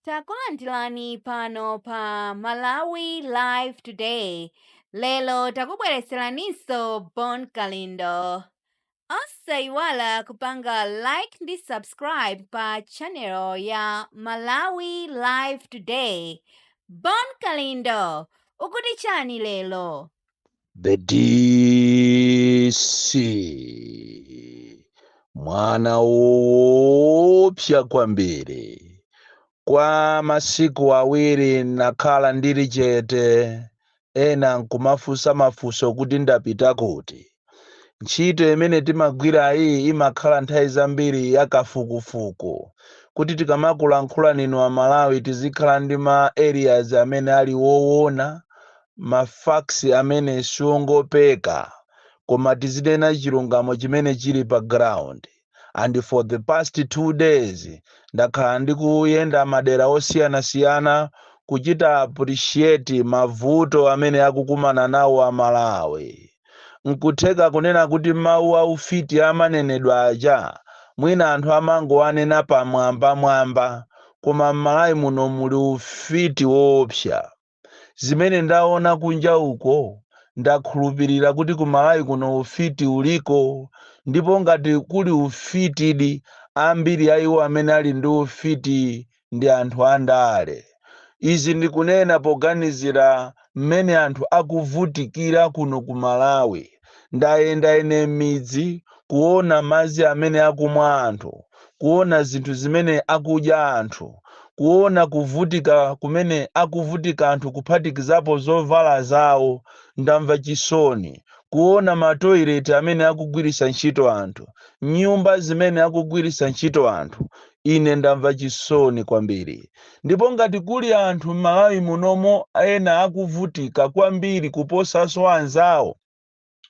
Takulandirani pano pa Malawi Live Today. Lero takubweretseraninso Bon Kalindo. Osayiwala kupanga like ndi subscribe pa channel ya Malawi Live Today. Bon Kalindo, ukuti chani lero? the DC mwana woopsa kwambiri kwa masiku awiri nakhala ndili chete ena nkumafunsa mafunso kuti ndapita kuti ntchito imene timagwira iyi imakhala nthawi zambiri yakafukufuku kuti tikamakulankhula ninu amalawi tizikhala ndi ma areas amene ali woona ma facts amene siongopeka koma tizinena chilungamo chimene chili pa ground and for the past two days ndakhala ndikuyenda madera osiyanasiyana kuchita appreciate mavuto amene akukumana nawo a Malawi nkutheka kunena kuti mawu a ufiti amanenedwa aja mwina anthu amangowanena pamwambamwamba koma m'malawi muno muli ufiti woopsa zimene ndaona kunja uko ndakhulupirira kuti ku malawi kuno ufiti uliko ndipo ngati kuli ufitidi ambiri a iwo amene ali ndi ufiti ndi anthu andale izi ndikunena poganizira mmene anthu akuvutikira kuno ku malawi Ndayenda ine m'midzi, kuona madzi amene akumwa anthu, kuona zinthu zimene akudya anthu, kuona kuvutika kumene akuvutika anthu kuphatikizapo zovala zawo. Ndamva chisoni kuona matoilet amene akugwiritsa ntchito anthu, nyumba zimene akugwiritsa ntchito anthu, Ine ndamva chisoni kwambiri ndipo ngati kuli anthu m'Malawi munomo ena akuvutika kwambiri kuposaso anzawo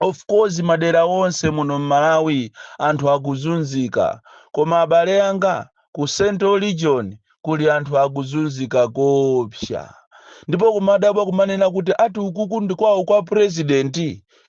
of course madera onse muno m'Malawi anthu akuzunzika koma abale anga ku central region kuli anthu akuzunzika koopsa ndipo kumadabwa kumanena kuti ati ukuku ndikwawo kwa president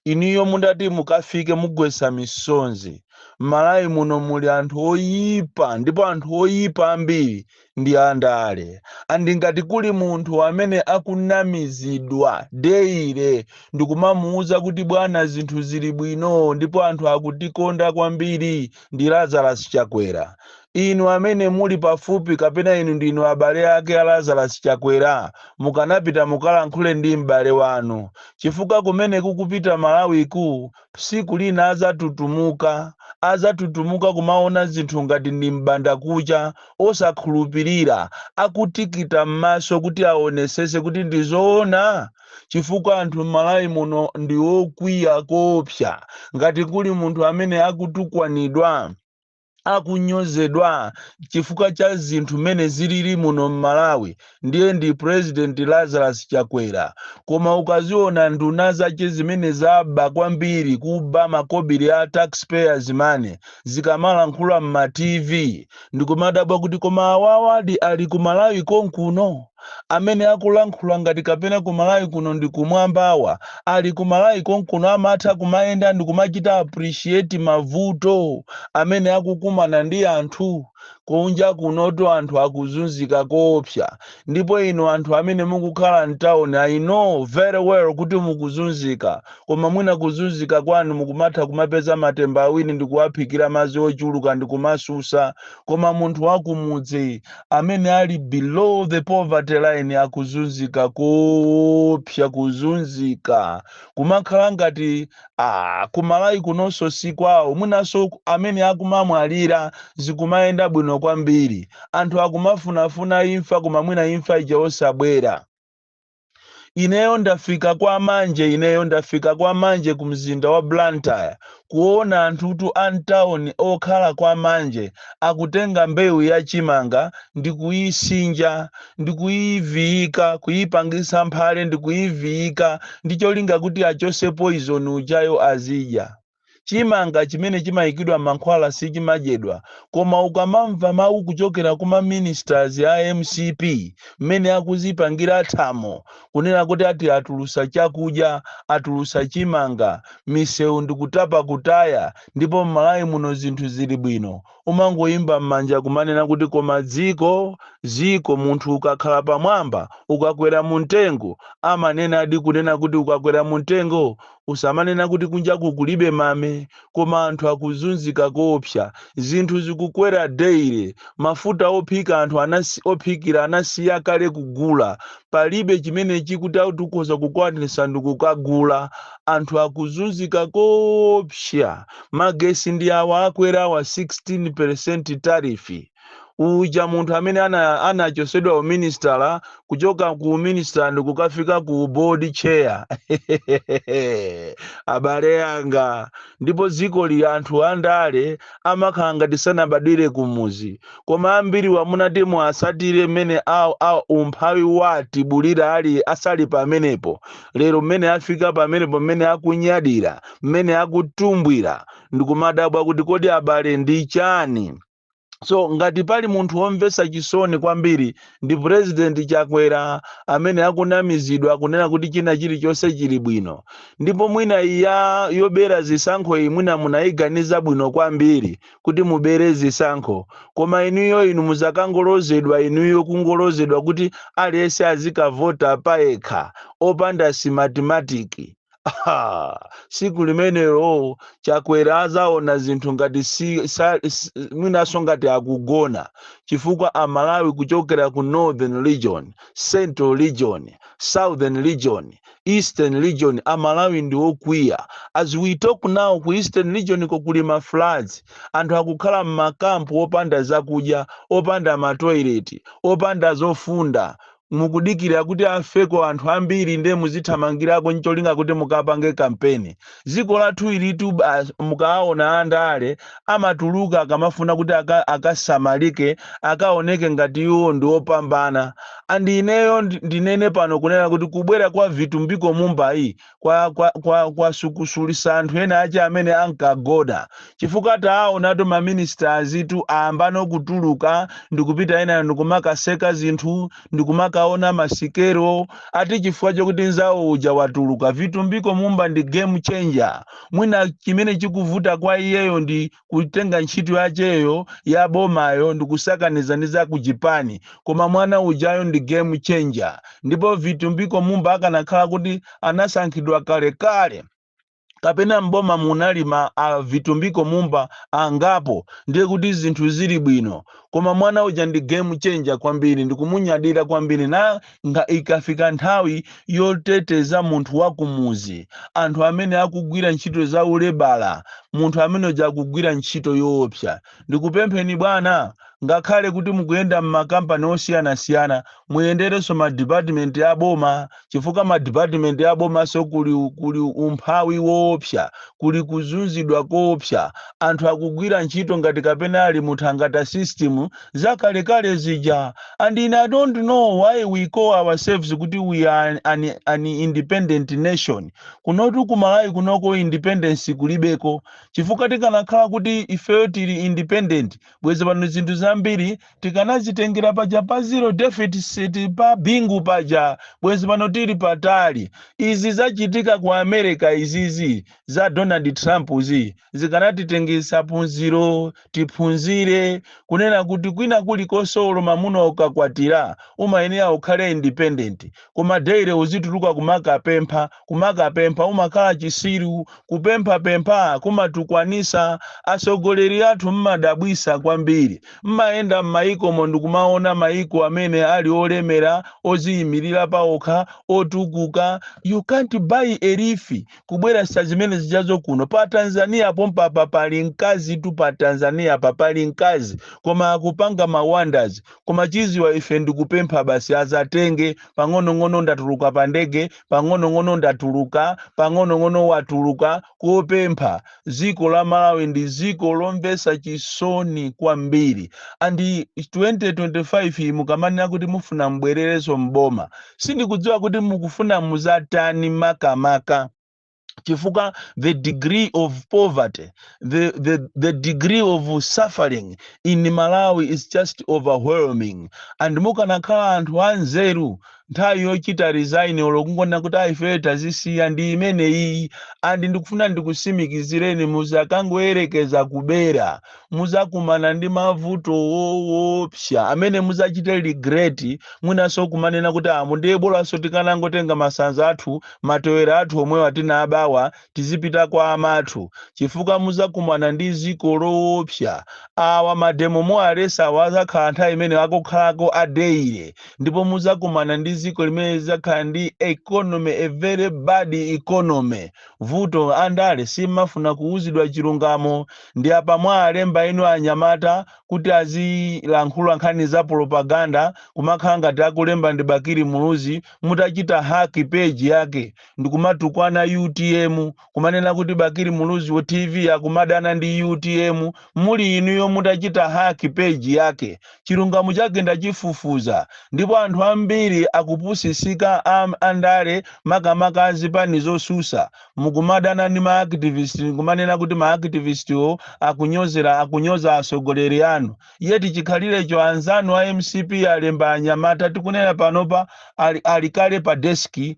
inuyo mutati mukafike mugwetsa misonzi m'malawi muno muli anthu oyipa ndipo anthu oyipa ambiri ndi andale and ngati kuli munthu amene akunamizidwa daily ndikumamuuza kuti bwana zinthu zili bwino ndipo anthu akutikonda kwambiri ndi Lazarus Chakwera. Inu amene muli pafupi kapena inu ndinu abale ake a Lazarus Chakwera mukanapita mukalankhule ndi m'bale wanu chifukwa kumene kukupita Malawiku tsiku lina adzatutumuka. Adzatutumuka kumaona zinthu ngati ndi m'bandakucha osakhulupirira akutikita m'maso kuti aonetsetse kuti ndi zoona? chifukwa anthu m'Malawi muno ndi okwiya koopsa. Ngati kuli munthu amene akutukwanidwa, akunyozedwa chifukwa cha zinthu mmene zilili muno m'Malawi, ndiye ndi President Lazarus Chakwera. Koma ukaziona nduna zache zimene zaba kwambiri, kuba makobiri a taxpayers money, zikamalankhula m'ma TV, ndikumadabwa kuti koma awawadi ali ku Malawi konkuno? Amene akulankhula ngati kapena ku Malawi kuno ndi kumwambawa ali ku Malawi konkuno amatha kumayenda ndikumachita appreciate mavuto amene akukumana ndi anthu? Kunja kunotu anthu akuzunzika koopsa ndipo inu anthu amene mukukhala m'tauni I know very well kuti mukuzunzika. Koma mwina kuzunzika kwanu mukumatha kumapeza matemba awiri ndikuwaphikira madzi ochuluka ndikumasusa koma munthu wakumudzi amene ali below the poverty line akuzunzika koopsa kuzunzika kumakhala ngati ah, ku Malawi kunonso si kwawo mwinanso amene akumamwalira zikumayenda bwino kwambiri anthu akumafunafuna imfa koma mwina imfa ija osabwera Ineyo ndafika kwa Manje Ineyo ndafika kwa Manje ku mzinda wa Blantyre kuona anthutu a m'town okhala kwa Manje akutenga mbewu ya chimanga ndikuyisinja ndikuyiviyika kuyipangisa mphale ndikuyiviyika ndi cholinga kuti achose poison ujayo azidya. Chimanga chimene chimaikidwa mankhwala sichimadyedwa koma ukamamva mau kuchokera kuma ministers a MCP mmene akuzipangira thamo kunena kuti ati atulusa chakudya, atulusa chimanga, misewu ndikutapa kutaya ndipo m'Malawi muno zinthu zili bwino umangowomba m'manja kumanena kuti koma dziko, dziko, munthu ukakhala pamwamba ukakwera mumtengo amanenadi kunena kuti ukakwera mumtengo Usamanena kuti kunjaku kulibe mame koma anthu akuzunzika koopsa. Zinthu zikukwera daily. Mafuta ophika anthu anasi, ophikira anasiya kale kugula. Palibe chimene choti ungati ukhoza kukwanitsa ndikukagula. Anthu akuzunzika koopsa. Magesi ndi awa akwerawa 16% tariff. uja munthu amene ana- anachosedwa uminisitala kuchoka ku uminisitala ndikukafika ku board chair abale anga ndipo dzikoli anthu andale amakhala ngati sanabadwire kumuzi koma ambiriwa munati muwasatire mmene awo awo umphawi watibulira ali asali pamenepo lero mmene afika pamenepo mmene akunyadira mmene akutumbwira ndikumadabwa kuti kodi abale ndi chani so ngati pali munthu womvetsa chisoni kwambiri ndi president chakwera amene akunamizidwa kunena kuti china chilichonse chili bwino ndipo mwina iya yobera zisankho iyi mwina munayiganiza bwino kwambiri kuti mubere zisankho koma inuyo inu muzakangolozedwa inuyo kungolozedwa kuti aliyense azikavota payekha opanda simatimatiki Aha, siku limenelo chakwera azaona zinthu ngati si, sa, s- mwinaso ngati akugona chifukwa amalawi kuchokera ku northern region central region southern region eastern region amalawi ndi okwiya as we talk now ku eastern region ko kuli ma floods anthu akukhala m'makampu opanda zakudya opanda matoileti opanda zofunda mukudikira kuti afeko anthu ambiri nde muzithamangirako ncholinga kuti mukapange kampeni dziko lathu ilitu basi mukaawona andale amatuluka akamafuna kuti aka, akasamalike akaoneke ngati iwo ndi opambana and ineyo ndi- ndinene pano kunena kuti kubwera kwa vitumbiko mumbayi kwa, kwa, kwa, kwasukusulisa anthu ena ache amene ankagona chifukwa taawonatu ma ministers tu ayambano kutuluka ndikupita ena ndikumakaseka zinthu ndikumakaona masikelo ati chifukwa chokuti nzawo uja watuluka vitumbiko mumba ndi game changer mwina chimene chikuvuta kwa iyeyo ndi kutenga ntchito yacheyo ya bomayo ndikusakaniza ndi za ku chipani koma mwana ujayo ndi game changer ndipo vitumbiko mumba akanakhala kuti anasankhidwa kalekale kapena m'boma munali ma a vitumbiko mumba angapo ndiye kuti zinthu zili bwino koma mwana uja ndi game changer kwambiri ndikumunyadira kwambiri na nga ikafika nthawi yoteteza munthu wa kumudzi, anthu amene akugwira ntchito za ulebala, munthu amene uja akugwira ntchito yoopsa. Ndikupempheni bwana, ngakhale kuti mukuyenda m'makampani osiyanasiyana, muyenderenso madipatimenti a boma chifukwa madipatimenti a bomanso kuli, kuli umphawi woopsa, kuli kuzunzidwa koopsa, anthu akugwira ntchito ngati kapena ali mu thangata system. zakalekale zija and I don't know why we call ourselves kuti we are an independent nation kunotu ku Malawi kunoko independence kulibeko chifukwa tikanakhala kuti ifeyo tili independent bwezi pano zinthu zambiri tikanazitengera paja pa zero deficit pa bingu paja bwezi pano tili patali izi zachitika ku America izizi za Donald Trump zi zikanatitengesa punziro tiphunzire kunena kuti kwina kulikonse olo mamuna ukakwatira umayenera ukhale independent koma daily uzituluka kumakapempha kumakapempha umakhala chisiru kupemphapempha kumatukwanisa atsogoleri athu mmadabwisa kwambiri mmayenda m'mayikomo ndikumaona mayiko amene ali olemera oziyimirira paokha otukuka you can't borrow a leaf kubweresa zimene zijazo kuno pa tanzania pompapa pali mkazi tu pa tanzania pa pali mkazi koma akupanga ma wonders koma chiziwa ife ndikupempha basi azatenge pang'onong'ono ndatuluka pa ndege pang'onong'ono ndatuluka pang'onong'ono watuluka kopempha dziko la malawi ndi ziko lomvesa chisoni kwambiri and 2025 iyi mukamanena kuti mufuna mbwerereso mboma sindikudziwa kuti mukufuna muzatani makamaka chifukwa the degree of poverty the degree of suffering in malawi is just overwhelming and mukanakhala anthu anzeru nthawi yochita resign olo kungonena kuti ayi ifeyo tazisiya ndi imene iyi and ndikufuna ndikusimikizireni muzakangoyerekeza kubera muzakumana ndi mavuto woopsa amene muzachite regret mwinanso kumanena kuti mmm ndiye bolanso tikanangotenga masanza athu matewera athu omwe tinabawa tizipita kwa amathu chifukwa muzakumana ndi ziko lowopsa awa mademo mwaletsawa azakhala nthawi imene akukhalako a daily ndipo muzakumana ndi ziko limene lizakhala ndi economy a very bad economy vuto andale simafuna kuuzidwa chilungamo ndi apa mwawalemba inu anyamata kuti azilankhula nkhani za propaganda kumakhala ngati akulemba ndi bakili muluzi mutachita hack page yake ndikumatukwana utm kumanena kuti bakili muluzi wa tv akumadana ndi utm muli inuyo mutachita hack page yake chilungamo chake ndachifufuza ndipo anthu ambiri akupusisika andale makamaka azipani zosusa mukumadana ndi maaktivist ndikumanena kuti maaktivistiwo akunyozera akunyoza atsogoleri anu yeti chikhalirecho anzanu a mcp alemba anyamata tikunena panopa ali kale pa deski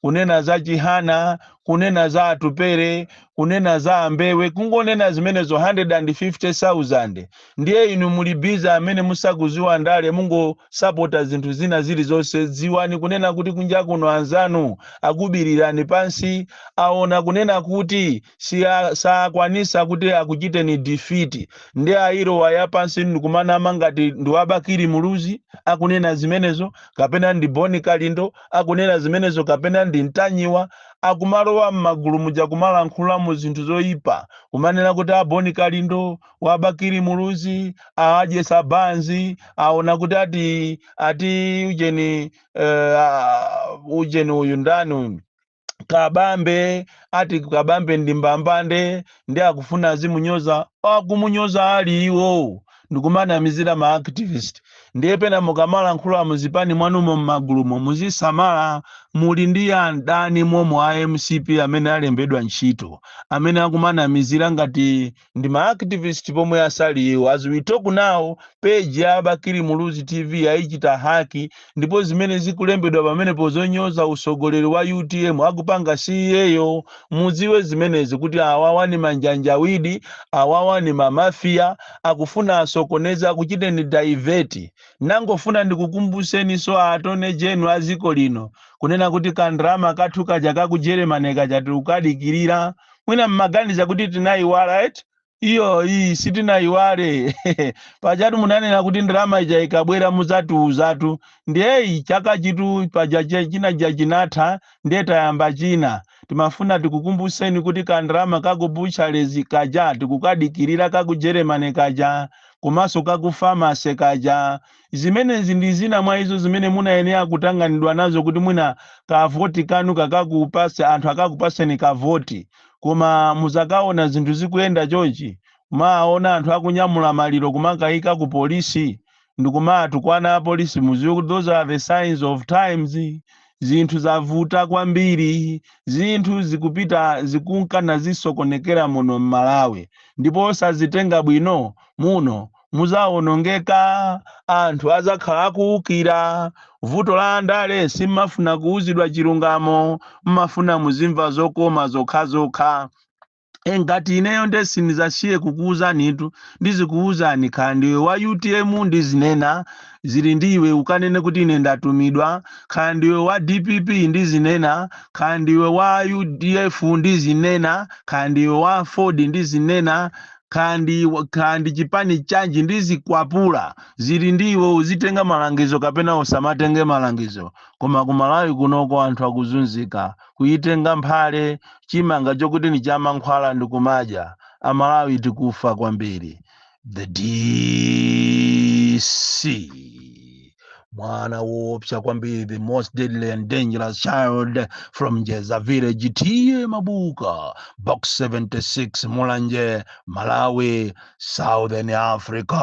kunena za chihana kunena za atupere kunena za ambewe kungonena zimenezo 150000 ndiye inu muli busy amene musakuziwa ndale mungosapota zinthu zina zilizonse dziwani kunena kuti kunja kuno anzanu akukubirirani pansi aona kunena kuti sakwanisa kuti akuchiteni defeat ndiye alowa ya pansi ndi kumanama ngati ndi wa Bakili Muluzi akunena zimenezo kapena ndi Boni Kalindo akunena zimenezo kapena ndi Ntanyiwa akumalowa m'magulu muja kumalankhulamo zinthu zoyipa kumanena kuti a Boni Kalindo wa Bakili Muluzi awadyetsa banzi aona kuti ati ati ujeni eh, ah, ujeni uyu ndani uyu kabambe ati kabambe ndi mbambande nde akufuna azimunyoza akumunyoza ali iwo ndikumanamizira ma activist ndiye pena mukamalankhula muzipani mwanumo mmagulumo muzisamala muli ndi adani momo a mcp amene alembedwa ntchito amene akumanamizira ngati ndi ma activist pomwe asali iwo as we talk now page ya bakili muluzi tv ayichita haki ndipo zimene zikulembedwa pamenepo zonyoza utsogoleri wa utm akupanga si iyeyo mudziwe zimenezi kuti awawa ni manjanjawidi awawa ni mamafiya akufuna asokoneza akuchiteni divert ndangofuna ndikukumbutseninso attorney general a dziko lino kunena kuti kandalama kathu kaja ka ku germany kaja tikukadikirira mwina mmaganiza kuti tinayiwala eti iyo iyi sitinayiwale pajatu munanena kuti ndalama ija ikabwera muzatiuzatu ndiyeyi chaka chitu paja che- china ja chinatha ndiye tayamba china timafuna tikukumbuseni kuti ka ndalama kakubuchalezi kaja tikukadikirira kaku germany kaja komanso kaku famase kaja Zimenezi ndi zina mwa izo zimene munayenera kutanganidwa nazo kuti mwina ka voti kanu kakakupatse, anthu akakupatseni ka voti. Koma mudzakaona zinthu zikuyenda chonchi, kumawaona anthu akunyamula maliro kumakaika ku police ndikumawatukwana a police mudziwe kuti those are the signs of times. Zinthu zavuta kwambiri. Zinthu zikupita zikunka nazisokonekera muno m'Malawi ndipo osazitenga bwino muno. mudzawonongeka anthu adzakhala akuwukira vuto la andale simmafuna kuwuzidwa chilungamo mmafuna muzimva zokoma zokhazokha E, ngati ineyo nde sindidzasiya kukuwuzanitu ndizikuwuzani kaya ndiwe wa utm ndizinena zili ndi iwe ukanene kuti ine ndatumidwa kaya ndiwe wa dpp ndizinena kaya ndiwe wa udf ndizinena kaya ndiwe wa aford ndizinena kaya ndi chipani chanji ndizikwapula zili ndi iwe uzitenga malangizo kapena usamatenge malangizo koma ku malawi kunoko anthu akuzunzika kuyitenga mphale chimanga chokuti ndi chamankhwala ndi kumadya amalawi tikufa kwambiri the dc mwana woopsa kwambiri the most deadly and dangerous child from jeza village tiye mabuka box 76 mulanje malawi southern africa